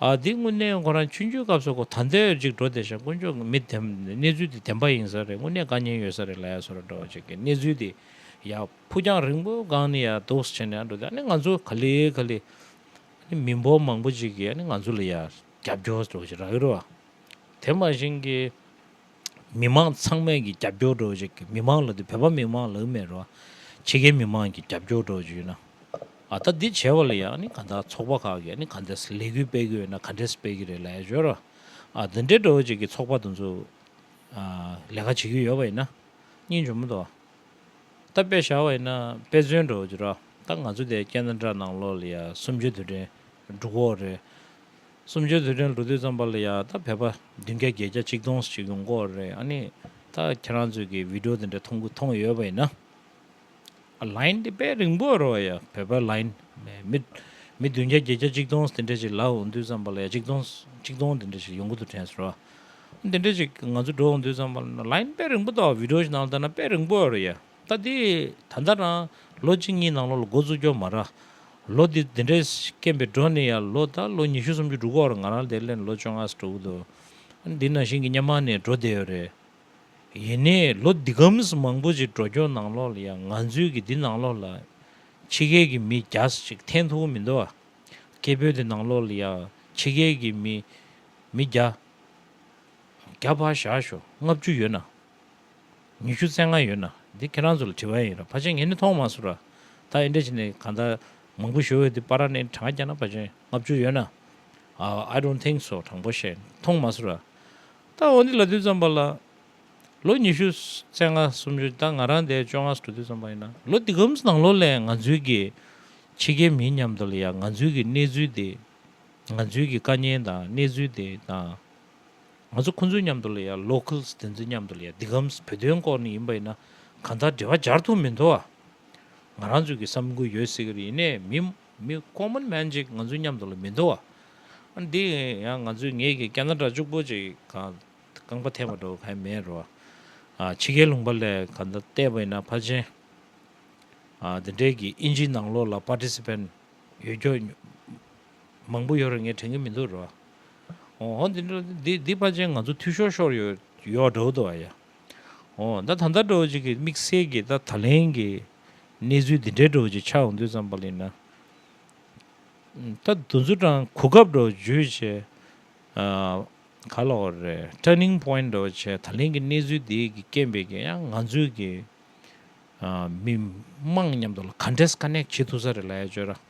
ཨ་འདི་དངོས་གནས་ཁོ་རང་ཆུ་འཇུའི་སྐབས་སུ་ཁོ་ད་ལྟའི་འོས་གཅིག་འགྲོ་བསྡད་ཤག་དཀོན་མཆོག་མི་དེ་གནས་ཚུལ་དེ་བདེན་པ་ཡིན་ས་རེད་དངོས་གནས་དགའ་ཉེན་ཡོད་ས་རེད་ལ་ཡ་སོ་ར་འགྲོ་བ་ཅིག་གི་གནས་ཚུལ་དེ་ཡ་ཕུག་རྒྱང་རིང་པོའི་སྒང་ནས་ཡ་སྡུགས་བྱས་ནས་ཡ་འགྲོ་དེ་ཨ་ནི་ང་ཚོ་ག་ལེ་ག་ལེ་ཨ་ནི་མི་འབོར་མང་པོ་ཅིག་གི་ཨ་ནི་ང་ཚོ་ལ་ཡ་རྒྱབ་སྐྱོར་འགྲོ་བ་ཅིག་ར་གི་རོ་ཨ་དེ་མ་བཞིན་གི། མི་མང་ཚང་མས་ཀྱི་རྒྱབ་སྐྱོར་འགྲོ་ཅིག་མི་མང་ལ་དེ་བོད་པ་མི་མང་ལ་མེད་རོ། ཕྱི་རྒྱལ་མི་མང་གྱི་རྒྱབ་སྐྱོར་འགྲོ་ཅིག་ན། ཨ་ད་འདི་བྱས་པ་ལ་ཡང་ནི་ག་འདའ་ཚོགས་པ་ཁག་གི་ནི་ག་འདའ་ལས་འགུལ་སྤེལ་གི་ཡོད་ན་ག་འདྲས་སྤེལ་གི་རེད་ལ་ཡ་བྱོས་རོ། ཨ་འདི་འདྲས་འགྲོ་ཅིག་གི་ཚོགས་པ་དེ་ཚོ་ལས་ཀ་བྱེད་ཀྱི་ཡོད་པ་ཡིན་ན་གཉིས་འཇོམ་དོ། ད་དཔེ་བཞག་པ་ཡིན་ན་དཔེ་མཚོན་འགྲོ་ཅིག་རོ། ད་ང་ཚོ་དེ་སྐད་འདྲ་འདྲ་གནང་ལོ་ལ་ཡ་སུམ་ཅུ་དུས་དྲན་འབྲུག་འོག་རེད། གསུམ་བཅུའི་དུས་དྲན་ལོ་དུས་ཙམ་པར་ལ་ཡང་ད་བལ་པ་བདུན་བརྒྱ་བརྒྱད་བརྒྱ་ཆིག་སྟོང་ཞིག་ཡོང་སྐོར་རེད་ཨ་ནི་ད་ཁྱེད་རང་ཚོས་ཀྱི་བི་དྲོ་དེ་འདྲ་མཐོང་གི་མཐོང་ཡོད་པ་ཡིན་ན། ལཱིན་དེ་དཔེ་རིང་པོ་རོ་ཡ་བལ་པ་ལཱིན་མི་མི་བདུན་བརྒྱ་བརྒྱད་བརྒྱ་ཅིག་སྟོང་དེ་འདྲ་ཞིག་ལ་འོང་དུས་ཙམ་པར་ལ་ཡ་ཅིག་སྟོང་ཅིག་སྟོང་དེ་འདྲ་ཞིག་ཡོང་གི་འདུག་དྲན་སོ་ར་དེ་འདྲ་ཞིག་ང་ཚོ་འགྲོ་འོང་དུས་ཙམ་པར་ལཱིན་དཔེ་རིང་པོ་ད་བི་དྲོ་ཞིག་ནང་དུ་ད་ན་དཔེ་རིང་པོ་རོ་ཡ། ལྟ་དེ། ད་ལྟ་རང་ལོ་གཅིག་གཉིས་ནང་ལོགས་ལ་འགོ་བཙུགས་རྒྱུ་མ་རག། ལོ་འདི་འདི་འདྲའི་སྐེམ་པའི་འགྲོ་ནི་ཡང་ལོ་ད་ལོ་ཉི་ཤུ་སུམ་ཅུ་དྲུག་འགོར་ང་རང་དེ་སླད་ནས་ལོ་བཅོ་ལྔ་སྤྲོ་འུ་ཐུག། འདི་ནང་བཞིན་གྱི་གཉའ་མ་ནས་འགྲོ་བསྡད་ཡོད་རེད། ཡིན་ནས་ལོ་འདི་གམ་ཟི་མང་པོ་ཅིག་འགྲོ་རྒྱུ་ནང་ལོགས་ལ་ཡང་ང་ཚོའི་གི་འདི་ནང་ལོགས་ལ། ཕྱི་རྒྱལ་གྱི་མི་གྱ་ས་ཅིག་འཐེན་ཐུབ་མི་འདུག་ཨ། སྐད་འབོད་དེ་ནང་ལོགས་ལ་ཡང་ཕྱི་རྒྱལ་གྱི་མི། མི་གྱ། གྱ་བ་བཞག་ཞོག་ལྔ་བཅུ་ཡོད་ན། ཉི་ཤུ་རྩེ་ལྔ་ཡོད་ན་འདི་ཁྱེད་རང་ཚོ་ལ་དྲི་བ་ཡིན་ར་བ་ཅན་ངས་ནི་མཐོང་མ་སོང་ར། ད་ཨེ་འདྲ་བྱས་ནས་གང་ལྟར་མང་པོ་ཞུ་འོས་འདུག་པ་ར་ནས་གྲངས་ཀྱང་ན་བ་ཅན་ལྔ་བཅུ་ཡོད་ན། I don't think so དྲང་པོ་བཤད་མཐོང་མ་སོང་ར། ད་འོ་འདི་ལ་དུས་ཙམ་པ་ལ། ལོ་ཉི་ཤུ་རྩེ་ལྔ་སུམ་ཅུ་ད་ང་རང་འདས་བཅོ་ལྔ་སུ་དུས་ཙམ་པ་ཡིན་ན་ལོ་འདི་གམ་ནང་ལོ་ལས་ང་ཚོའི་གི་ཕྱི་རྒྱལ་མིའི་མཉམ་དུ་ལ་ཡང་ང་ཚོའི་གི་གནས་ཚུལ་འདི་ང་ཚོའི་གི་དཀའ་ཉེན་དང་གནས་ཚུལ་འདི་དང། ང་ཚོ་ཁོང་ཚོའི་མཉམ་དུ་ལ་ཡ Locals དེ་ཚོའི་མཉམ་དུ་ལ་ཡ་འདི་གམས་བོད་དོན་སྐོར་ནས་ཡིན་པ་ཡིན་ན་གང་ལྟར་འབྲེལ་བ་སྦྱར་ཐུབ་མི་འདུག་ཨ། ང་རང་ཚོས་ཀྱི་བསམ་ཁུར་ཡོད་ཟེར་གྱི་རེད་ཡིན་ནས་མི་མི Common Man གཅིག་ང་ཚོའི་མཉམ་དུ་ལ་མི་འདུག་ཨ། ཨ་འདི་ཡང་ང་ཚོའི་ངེད་ཀྱི་ཀྱ་ན་ར་ཅུག་པོ་ཅིག་གང་རྐང་པ་ཐེབས་པ་འགྲོ་ག་ཡ་མེད་རོ། ཨ་ཕྱི་རྒྱལ་ལུང་པ་ལས་གང་ལྟར་བལྟས་པ་ཡིན་ན་ཕ་ཆེན་ཨ་འདི་འདྲས་ཀྱི་ཨིན་ཇིའི་ནང་ལོགས་ལ Participant ཡོད་སྐྱོ། མང་པོ་ཡོད་རེད་ངས་དྲན་གི་མི་འདུག་རོ། ཨོ་ཧོ་འདི་འདྲ་འདི་འདི་པ་ཅན་ང་ཚོ་འཐུས་ཤོར་ཤོར་ཡོད་ཡོད་འདྲ་བོ་འདུག་ཨ་ཡ། ཨོ་ད་ད་ལྟ་འདྲ་བོ་ཅིག་གི་དམིགས་བསལ་གྱི་ད་ད་ལན་གྱི་གནས་ཚུལ་འདི་འདྲའི་འདྲ་བོ་ཅིག་ཆགས་འོང་དུས་ཙམ་པ་ལ་ཡིན་ན། ད་དུ་འཛུ་ཀྲང་གོ་སྐབས་འདྲ་བོ་བརྗོད་བྱས་ག་ལ་བ་རེད Turning Point འདྲ་བོ་བྱས་ད་ལན་གྱི་གནས་ཚུལ་འདི་གྱི་རྐྱེན་པས་ཀྱང་ཡང་ང་ཚོའི་གི་མི་དམངས་མཉམ་དུ་ལ Contest Connect བྱེད་ཐུབ་ས་རེད་ལ་ཡ་བརྗོད་ར།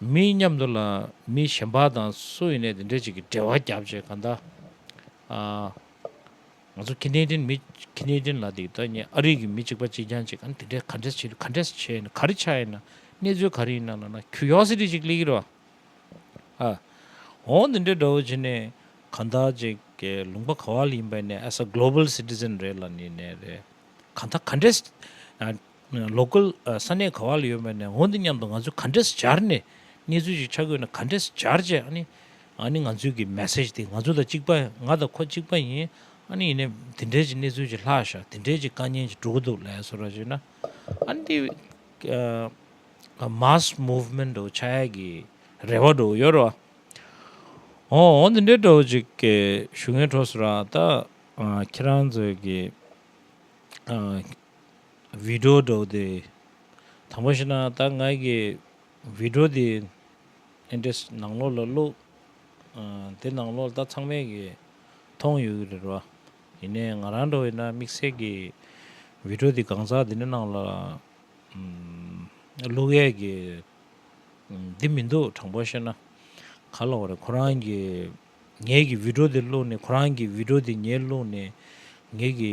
མི་མཉམ་དུ་ལ་མི་གཞན་པ་དང་སུ་ཡིན་ནས་དེ་འདྲའི་ཅིག་གི་འབྲེལ་བ་བརྒྱབ་ཅེས་ག་འདའ། ང་ཚོ་ཁེ་ནེ་ཏིན་མི་ཁེ་ནེ་ཏིན་ལ་དེ་ད་ཉེ་ཨ་རིག་གི་མི་གཅིག་པ་གཅིག་རྐྱང་ཅིག་ག་འདི་འདྲས་ག་འདྲས་བྱེད་ག་འདྲས་བྱས་ཡིན་ན་ག་རེ་ཆགས་ཡིན་ན་གནས་ཚུལ་ག་རེ་ཡིན་ན་ལ་ན་ཁྱུ་ཡོག་སི་ཏི་ཅིག་གླེ་གི་རོ། ཨ་འོ་འདི་འདྲས་འདྲ་བོ་བྱེད་ནས་ག་འདའ་ཅིག་གི་ལུང་པ་ག་བ་ལ་ཡིན་པ་ཡིན་ནས as a global citizen རེད་ལ་ནི་ནས་རེད་ག་འདའ་ག་འདྲས་ལོ་ཀུལ་ས་གནས་ག་བ་ལ་ཡོད་པ་ནས་འོང་འདི་སྙམ་དུ་ང་ཚོས་ག་འདྲས་སྦྱར་ནས་གནས་ཚུལ་ཞིག་ཆ་བགོས་ནས་ག་འདྲས་སྦྱར་བྱས་ཨ་ནི་ཨ་ནི་ང་ཚོའི་གི message དེ་ང་ཚོ་དང་གཅིག་པ་ང་དང་ཁོ་གཅིག་པ་ཡིན་ཨ་ནི་ཡིན་ནའི་འདི་འདྲས་ཀྱི་གནས་ཚུལ་ཞིག་ལྷག་ཤག་འདི་འདྲས་ཀྱི་དཀའ་ཉེན་ཞིག་འགྲོ་གི་འདུག་ལས་སོ་ར་ཞེ་ན་ཨ་ནི་དེ mass movement འགྲོ་ཆ་ཡ་གི་རེ་བ་འགྲོ་ཡོད་རོ་ཨོ་ཨོ་འདི་འདྲས་འགྲོ་ཅིག་གི་ཞུ་ངའི་གྲོ་སོ་ར་ད་ཁྱེད་རང་ཚོའི་གི་བི་ཀྲོ་སྒྲོག་དེ། དང་པོ་ཞིག་ན་ད་ང་གི་བི་ཀྲོ་དེ Interest ནང་ལོགས་ལ་བླུགས། དེ་ནང་ལོགས་ལ་ད་ཚང་མས་གིས་མཐོང་ཡོད་གི་རེད་བ། ཡིན་ནས་ང་རང་འགྲོ་ཡིན་ན་དམིགས་བསལ་གི་བི་ཀྲོ་དེ་གང་ཟག་དེ་འདྲ་ནང་ལ་བླུགས་ཡས་གི་འདི་མི་འདུག་དྲང་པོ་བཤད་ན། ག་ལ་བ་རེད་ཁོ་རང་གི་ངས་གི་བི་ཀྲོ་དེ་བླུགས་ནས་ཁོ་རང་གི་བི་ཀྲོ་དེ་ངས་བླུགས་ནས་ངས་གི་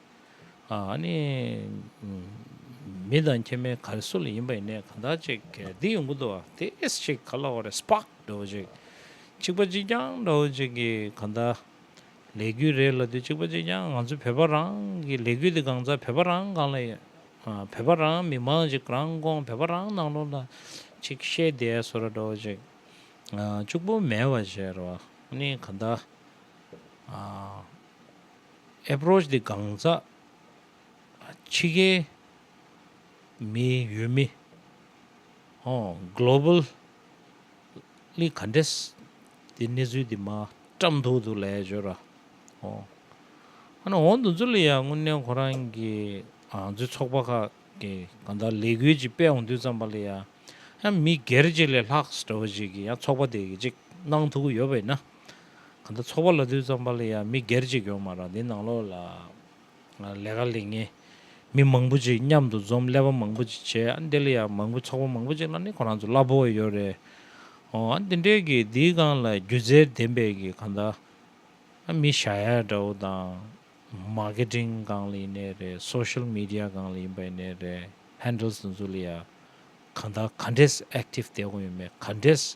ནི། མི་དང་ཁྱེད་མའི་གར་སོལ་ཡིན་པ་ཡིན་ནས་གང་དག་ཅིག་འདི་ཡོང་གི་འདུག་བ་དེས་ཅིག་ག་ལ་བ་རེད་སྤག་འདྲ་བོ་ཅིག་ཅིག་པ་ཅིག་ཀྱང་འདྲ་བོ་ཅིག་གིས་གང་དག་ལས་རྒྱུ་རེད་ལ་དུས་ཅིག་པ་ཅིག་ཀྱང་ང་ཚོ་བོད་པ་རང་གི་ལས་རྒྱུ་དེ་གང་ཚ་བོད་པ་རང་གང་ལ་ཡོད་བོད་པ་རང་མི་མང་ཅིག་རང་དགོང་བོད་པ་རང་ནང་ལོག་ལ་ཅིག་བཤད་བསྡད་སོ་ར་འདྲ་བོ་ཅིག་ཅུག་པོ་མེད་བ་བཞེས་ར་བ་ནི་གང་དག Approach དེ་གང་ཟག་ཕྱི་རྒྱལ་མི་ཡུལ་མི Globally ག་འདྲས་དེ་གནས་ཚུལ་དེ་མ་བཀྲམ་ཐུག་འདུག་ལས་བྱོས་ར་ཨོ། འོན་ཏུ་འཛུ་ལི་ཡ་དངོས་གནས་ཁོ་རང་གི་འཛུལ་ཚོགས་པ་ཁག་གི་གང་དག་ལས་འགུལ་ཅིག་སྤེལ་འོང་དུས་ཙམ་པ་ལི་ཡ་ཡང་མི་སྒེར་གཅིག་ལས་ལྷག་སི་ཏྲ་བ་ཅིག་གི་ཡང་ཚོགས་པ་དེ་གི་ཅིག་གནང་ཐུག་གི་ཡོད་པ་ཡིན་ན། གང་ལྟར་ཚོགས་པ་ལ་དུས་ཙམ་པར་ལ་ཡང་མི་སྒེར་གཅིག་ཡོང་མ་རག་འདི་ནང་ལོགས་ལ་ལས་ཀ་ལས་ངན་མི་མང་པོ་ཅིག་མཉམ་དུ་འཛོམས་ཀླད་པ་མང་པོ་ཅིག་བྱས་ཨ་འདི་ལ་ཡང་མང་པོ་ཚོགས་པ་མང་པོ་ཅིག་ལ་ནི་ཁོ་རང་ཚོ་གླ་ཕོགས་ཡོད་རེད་ཨོ་ཨ་འདི་འདྲས་ཀྱི་འདིའི་སྒང་ལ་སྒྱུ་རྩལ་ལྡན་པའི་ཀྱི་གང་ལྟར་ཨ་མི་ཞྭ་ཡག་འདྲ་བོ་དང Marketing སྒང་ལ་ཡིན་ནའི་རེད Social Media སྒང་ལ་ཡིན་པ་ཡིན་ནའི་རེད Handles དེ་ཚོ་ལ་ཡང་གང་ལྟར་ག་འདྲས Active བསྡད་དགོས་ཡོད་མེད་ག་འདྲས།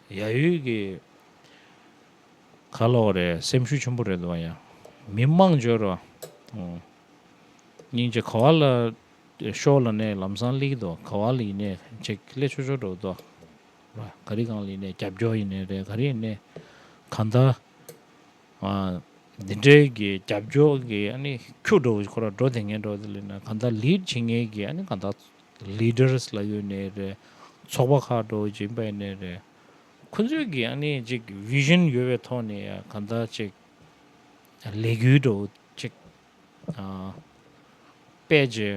ཡ་ཡུས་ཀྱི་ཁ་ལོག་རེད་སེམས་ཤུགས་ཆེན་པོ་རེད་འདུག་བ་ཡང་མི་དམངས་འབྱོར་བ་སྙིང་རྗེ་ག་བ་ལ་ཤོག་ལ་ནས་ལམ་སང་ལིག་དོ་ག་བ་ལ་ཡིན་ནས་ཅེག་ཀླད་ཆོས་ཆོས་འགྲོ་དོ་ག་རི་གང་ལ་ཡིན་ནས་རྒྱབ་སྐྱོག་ཡིན་ནས་རེད་ག་རི་ཡིན་ནས་ག་འདའ་འདི་འདྲའི་གི་རྒྱབ་སྐྱོག་གི་ཨ་ནི་ཁྱུག་འགྲོ་བ་ཁོ་ར་འགྲོ་དེ་ངན་འགྲོ་དེ་ལེ་ན་ག་འདའ་ལིད་བྱེད་ངན་གི་ཨ་ནི་ག་འདའ། Leaders། ལ་ཡོད་ནི་རེད། ཚོགས་པ་ཁག་འགྲོ་བཞིན་པ་ཡིན་ནི་རེད། ཁོ་ཚོས་ཀྱི་ཨ་ནི་ཅིག Vision ཡོད་པའི་ཐོག་ནས་གང་ལྟར་ཅིག་ལས་འགུལ་འགྲོ་ཅིག་པད་རྗེ་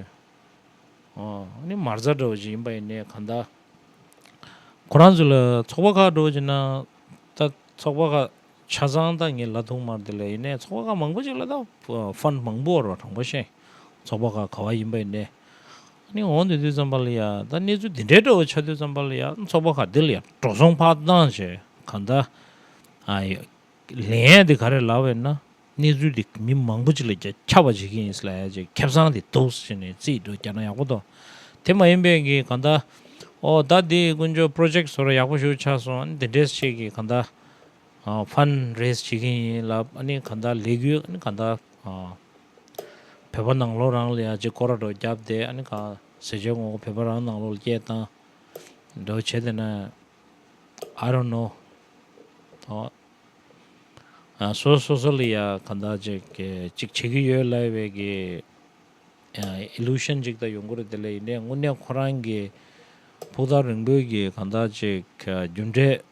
ནི་མར་རྫ་འགྲོ་བཞིན་པ་ཡིན་ནི་གང་ལྟར། ཁོ་རང་ཚོས་ལ་ཚོགས་པ་ཁག་འགྲོ་བཞིན་ན་ད་ཚོགས་པ་ཁག་ཆ་ཚང་དང་ངེད་ལ་ཐུག་མར་དེ་ལས་ཡིན་ནའི་ཚོགས་པ་ཁག་མང་པོ་ཅིག་ལ་དང་བན་མང་པོ་བར་བ་དང་བ་ཤན་ཚོགས་པ་ཁག་ག་བ་ཡིན་པ་ཡིན་ནའི་ནི་འོང་དུས་དུས་ཙམ་པ་ལ་ཡ་ད་གནས་ཚུལ་དེ་འདྲའི་འགྲོ་བ་ཆགས་དུས་ཙམ་པ་ལ་ཡ་ཚོགས་པ་ཁག་དེ་ལ་ཡ་འགྲོ་སོང་ཕག་གདང་བྱས་ག་ད་ཨ་ཡ་ལན་ཡ་དེ་ག་རེ་ལ་བས་ན་གནས་ཚུལ་དེ་མི་མང་པོ་ཅིག་ལ་རྒྱ་ཁྱབ་པ་བྱེད་ཀྱི་ཡིན་ལ་ཡ་ཅིག་ཁེབས་སང་དེ་འདུག་ཟེར་ནས་རྩིས་འདུག་རྒྱ་ན་ཡག་པོ་འདུག་དེ་མ་ཡིན་པའི་གི་ག་ད་ཨོ་ད་དེ་དཀོན་མཆོག་པྲོ་ཇེཀ་བཟོ་ར་ཡག་པོ་ཞུ་ཆགས་སོང་ཨ་ནི་དེ་འདྲས་བྱེད་ཀྱི་ག་ད། Fund Raise བྱེད་མཁན་ཡིན་ལ་གནས་གང་དག་ལས་གུས་གནས་གང་དག་བོད་པ་ནང་ལོག་རང་ལ་ཡང་ཅིག་ཀོ་ར་སྒྲོག་རྒྱབ་སྟེ་གནས་གང་ཟས་ཅོལ་ངོ་བོད་པ་རང་ནང་ལོག་ལ་སྐྱེལ་བཏང་སྒྲོག་བྱེད་དེ་ན I don't know སོ་སོ་སོ་ལ་ཡང་གང་དག་ཅིག་ཅིག་བྱེད་གི་ཡོད་ལབ་བའི་གི Illusion ཅིག་དག་ཡོང་གི་རེད་དེ་ལས་ཡིན་དྲན་དངོས་གནས་ཁོ་རང་གི་ཕུག་ཐག་རིང་པོའི་གི་གང་དག་ཅིག་རྒྱུ་འབྲས་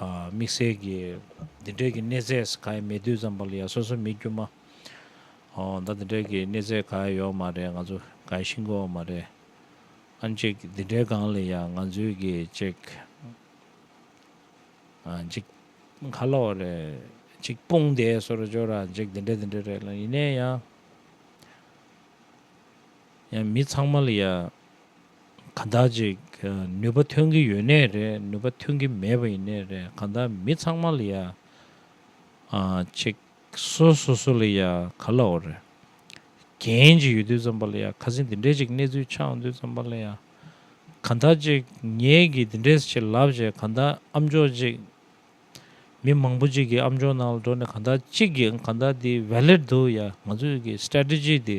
དམིགས་བསལ་གྱི་འདི་འདྲའི་གི་གནས་ཚད་ག་ཡང་མེད་དུས་ཙམ་པ་ལ་ཡང་སོ་སོ་མི་དཀྱུས་མ་ད་འདི་འདྲའི་གི་གནས་ཚད་ག་ཡང་ཡོད་མ་རེད་ང་ཚོ་ག་ཡང་ཤི་འགོ་བ་མ་རེད་ཨང་གཅིག་འདི་འདྲའི་སྒང་ལ་ཡང་ང་ཚོའི་གི་གཅིག་གཅིག་ཁ་ལོ་རེད་གཅིག་དཔུང་སྡེ་སོ་ར་ཅོ་ར་གཅིག་འདི་འདྲ་འདི་འདྲ་རེད་ལ་ཡིན་ནའི་ཡང་ཡང་མི་ཚང་མ་ལ་ཡང། གང་དག་ཅིག་ནུས་པ་ཐོན་གྱི་ཡོད་ནའི་རེད་ནུས་པ་ཐོན་གྱི་མེད་པ་ཡིན་ནའི་རེད་གང་དག་མི་ཚང་མ་ལ་ཡང་ཅིག་སོ་སོ་སོ་ལ་ཡང་ག་ལ་འོ་རེད་རྒྱན་ཅིག་ཡོད་དུས་ཙམ་པ་ལ་ཡང་ཁ་ཟིན་འདི་འདྲའི་ཅིག་གནས་ཚུལ་ཆགས་འོང་དུས་ཙམ་པ་ལ་ཡང་གང་དག་ཅིག་ངེད་ཀྱིས་འདི་འདྲའི་ཅིག་ལབ་བྱས་གང་དག་ཨམ་ཅོག་ཅིག་མི་མང་པོ་ཅིག་གིས་ཨམ་ཅོག་ནང་ལ་འགྲོ་ནས་གང་དག་ཅིག་གིས་གང་དག་འདི valid འདུག་ཡ་ང་ཚོས་ཀྱི strategy འདི